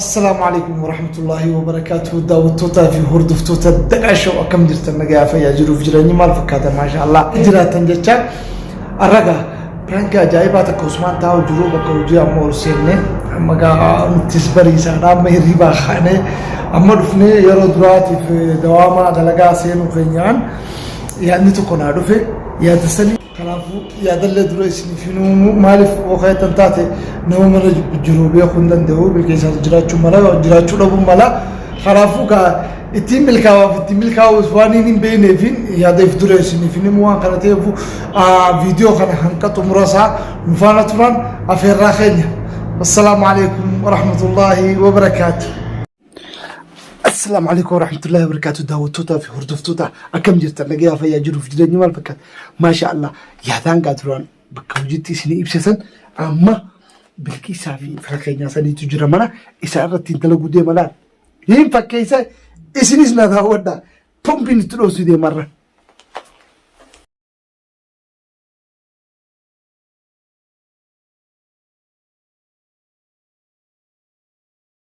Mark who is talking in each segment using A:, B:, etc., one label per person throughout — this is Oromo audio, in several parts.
A: Assalaamu alaikum warahmatullahi wabarakatuh daawwattootaa fi hordoftoota Daqaa Show akkam jirtan nagaa fayyaa jiruuf jireenyi maal fakkaata maasha Allah jiraatan jecha arraga piraanki ajaa'ibaa takka Usmaan taa'u jiru bakka hojii amma ol seenne amma gaa nuttis bariisaadha amma hirribaa kaanee amma dhufnee yeroo duraatiif dawaamaa dalagaa seenuu keenyaan yaadni tokko naa dhufe yaada sanii Kanaafuu yaadallee dura isiniif hin uumu. Maaliif yoo ka'eettan taate nama mana jibbu jiru beekuu hin danda'u. Milkeessaatu jiraachuu mala, jiraachuu dhabuu mala. Kanaafuu kaa ittiin milkaa'aaf ittiin milkaa'uus waan hin hin beekneefiin yaada if dura isiniif hin himu waan kana ta'eefu viidiyoo kana hanga xumura isaa nu faana turaan afeerraa keenya. Assalaamu alaikum warahmatullaahi wabarakaatu. Assalaamu alaikum warahmatullahi wabarakatuh daawwattootaa fi hordoftoota akkam jirtan nagayaa fayyaa jiruuf jireenyi maal fakkaata maasha Allah yaadaan gaa duraan bakka hojiitti isinii ibsisan amma bilqiisaa fi fira keenyaa saniitu jira mana isaa irratti hin dalaguu deema laal hin fakkeessa isinis na daawwadha pompiin itti dhoosuu deemarra.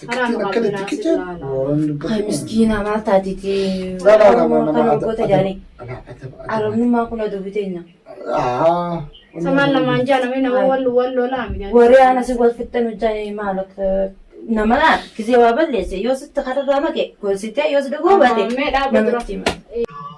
B: Tikkitiin
A: akkana tikkitiin. Kan
C: miskiina maal taatiti? Oromoo kan waggoota jaanii. Arabnummaa kun aduu biteenya.
B: Samaan lamaan jaa namni nama wal wal lolaa midhaan. Waree ana si wal
C: fixxan hojjaan maal akka nama laa gisee waa balleesse yoo sitti kararraa make gorsitee yoo si dhuguu baate Mee dhaaba dura. namatti hima.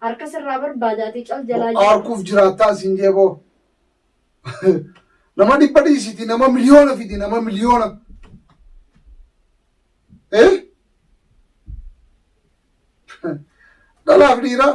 B: Harka sirraa barbaadaati cal jalaa jiru. Harkuuf jiraattaa
A: siin jeeboo. Nama dhibba dhiisiti nama miliyoona fidi nama miliyoona. Eh? Dhalaaf dhiiraa.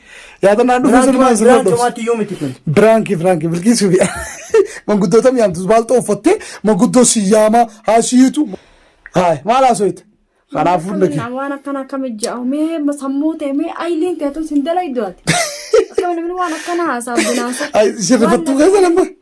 D: Yaadannaan dhufe sirnaan Biraan sirnaan dhufe. comaatti yoo miti kun. Biraanki biraanki bilkiisuu bi'a. Manguddoota mi'aamtu baalxoo uffattee manguddoo siyyaama haasiitu. Haay maal haasooyte? Kanaaf hunda kee. Akkamiin waan akkana akkami
B: ja'u mee ma- sammuu ta'e mee ayiliin ta'e tun sin dalaydu ati. Akkami namni waan akkana haasaa binaasu. Ay, isin rifattuu
D: keessa lamma.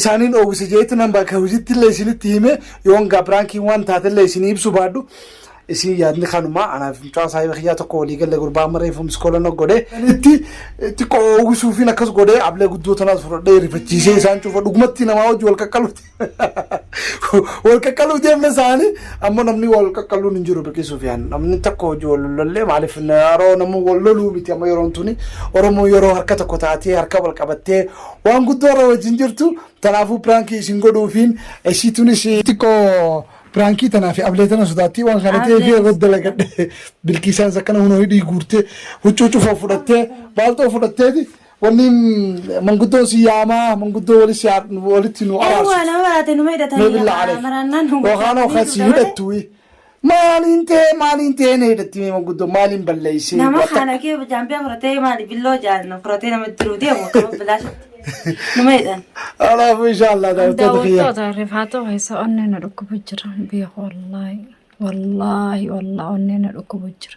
D: isaaniin oowwise jeetti nan bakka hojiitti illee isinitti hime yoon gaa piraankiin waan taate illee isinii ibsu baadhu isin yaadni kanuma anaaf mucaa saahiba kiyyaa tokko walii galle gurbaa amma reefu miskoola na godhe itti xiqqoo oowwisuufiin akkas godhee ablee guddoo tanaas fudhadhee rifachiisee isaan cufa dhugumatti namaa hojii wal qaqqaluuti wal qaqqaluu deemna isaanii amma namni wal qaqqaluun hin jiru biqisuuf yaan namni tokko hojii wal lollee maaliif yeroo namni wal loluu miti amma yeroon tuni oromoo yeroo harka tokko taatee harka wal qabattee Waan guddoo irra wajjin jirtu tanaafuu piraankii isin godhuufiin ishii tunis xiqqoo piraankii tanaa fi ablee tana sodaattii waan kana ta'ee fi irratti dalagadhe bilkiisaanis akkana hunoo hidhii guurtee huccuu cufoo fudhattee baaltoo fudhatteeti wanni manguddoon si yaamaa manguddoo walis yaa- walitti nu araarsu. Waan nama baraate
C: numa hidhatanii. Mee billaa aleef. Maraannaan
D: nu Yookaan hookan si hidhattu. Maaliin ta'ee maaliin ta'ee na hidhatti mee manguddoo maaliin balleessee Nama wata- kana kee
C: jaambiyaa fudhatee maali billoo jaalna fudhatee nama diruu deemu qaba bilaashitti. Nama jedhan. Alaafuu
D: inshaallah daawwattoota kiyya. Daawwattoota
B: rifaatoo keessa onnee na dhukkubu jira beeku wallaahi wallaahi wallaahi onnee na dhukkubu jira.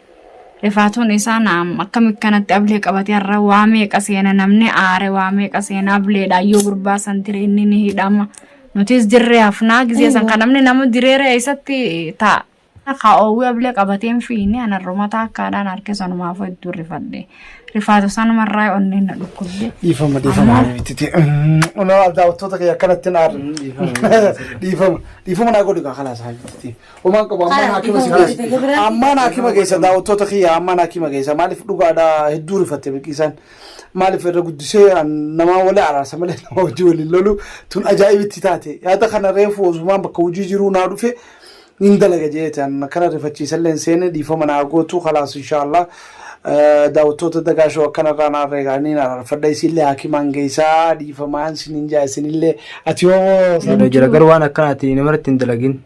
B: Rifaatuun isaa naam akkam akkanatti ablee qabatee har'a waa meeqa seena namni aare waa meeqa seena ableedha yoo gurbaa san tiree inni ni hidhama nutis dirree hafnaa gisee san kan namni nama direera eessatti taa'a. Akka oowwii ablee qabateen fiini anarruma taakkaadhaan harkee sanumaaf hedduu rifadhe rifaatu sanumarraa onneen na dhukkubde. Dhiifama dhiifama
D: mitiiti. Unaa daawwattoota kee akkanatti hin aarre. Dhiifama dhiifama naa godhi kaa kalaas haa mitiiti. Homaan qabu ammaan haakima si geessa. Ammaan haakima geessa daawwattoota kiyya ammaan haakima geessa maaliif dhugaadha hedduu rifatte biqiisaan maaliif irra guddisee an namaa wali araarsa malee nama hojii waliin lolu tun ajaa'ibitti taate yaada kana reefu osumaan bakka hojii jiruu naa dhufe hin dalaga jeete an akkana rifachiisallee hin seene dhiifama naa gootu kalaas inshaallah daawwattoota dagaashoo akkanarraa naa reegaanii naa ararfadha isinillee haakimaan geessaa dhiifamaan sinin jaa isinillee ati hoo Yoo jira garuu waan akkanaati
E: namarratti hin dalagin.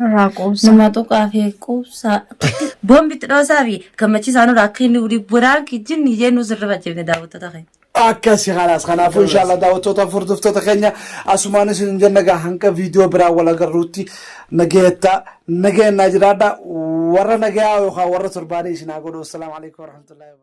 B: Nurraa quubsaa. Nama tuqaa fi
C: quubsaa. Boombi itti dhoosaa fi gammachiisaa nurraa akka inni wuli biraan kijjinni ijee nu sirrifa jibne daawwattoota keenya. Akkasi kanaas
D: kanaafuu inshaallah daawwattoota furdiftoota keenya asumaan isin jenna gaa hanga viidiyoo biraa wal agarruutti nagayattaa nagayannaa jiraadha warra nagayaa yookaan warra torbaanii isin haa godhu assalaamu alaikum warahmatullahi wabarakatuh.